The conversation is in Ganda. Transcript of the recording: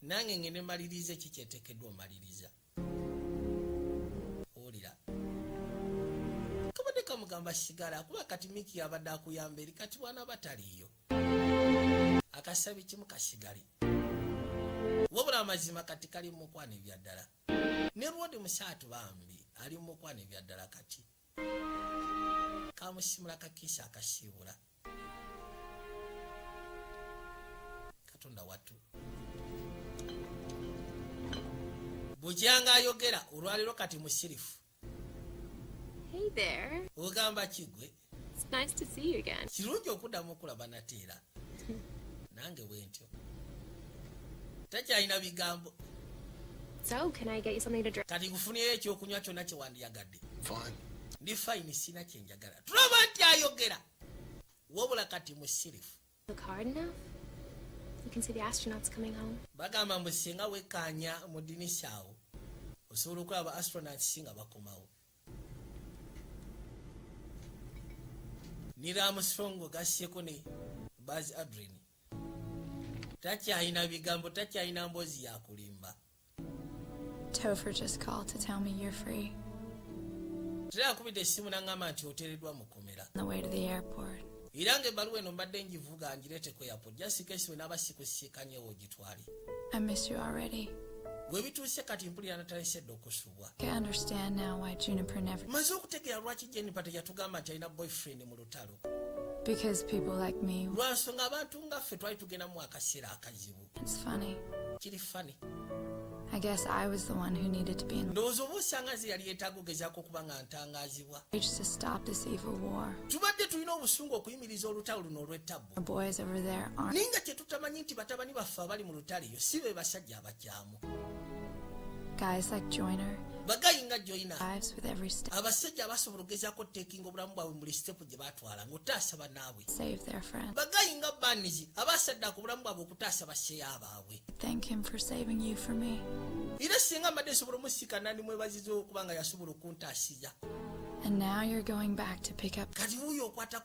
nange ngende malirize ki kyetekeddwa omaliriza owulira kabadde kamugamba sigala kuba kati miki yabadde akuyamba eri kati bwana bataliiyo akasabi kimu kasigale wabula amazima kati kali mumukwana ebyaddala ne lwodi musaatu bambi ali mumukwana ebyaddala kati kamusimula kakisa akasiibula katonda wattu bukyanga ayogera olwaliro kati musirifu ogamba kigwe kirungi okuddamu okulaba nate era nange wentyo takyalina bigambo kati nkufunyeyo ekyokunywa kyonna kyewandiyagadde ndi fayini sina kyenja ayagala tulaba nti ayogera wabula kati musirifu bagamba mbu singa wekaanya mu dinisa awo osobola okulaba astronauts nga bakomawo niramusongo gasseko ne bas adrin takyalina bigambo takyalina mboozi yakulimba Topher just called to tell me you're free. Tera kubide simu nangama nti oteredwa mukomera. The way to the airport. Irange ebaluwa eno mbadde ngivuga ngirete ku airport just in case wena abasikusikanyewo ogitwale. I miss you already. Gwe bituuse kati mpulira natalesedde okusubwa. I understand now why Juniper never. Maze okutegeera lwaki Juniper teyatugamba nti alina boyfriend mu lutalo. Because people like me. Lwansonga abantu nga ffe twali tugenda mu akaseera akazibu. It's funny. Kiri funny. I guess I was the one who needed to be in ndowooza oba osanga nze yali yetaaga ogezaako okuba nga ntangazibwa to stop this evil war tubadde tulina obusungu okuyimiriza olutalo luno olw'ettabbu boys over there aren't naye nga kyetutamanyi nti batabani baffe abali mu lutalo eyo si be basajja abakyamu guys like joiner bagayi nga joiner abasajja abasobola ogezaako tekinga obulamu bwabwe mu buli sitepu gye batwala ng'otaasa banaabwe bagayi nga banizi abasadda ku bulamu bwabwe okutaasa basseya baabwe era singa mbadde nsobola omusika nandi mwebaziza okuba nga yasobola okuntaasiza kati wuyo okwata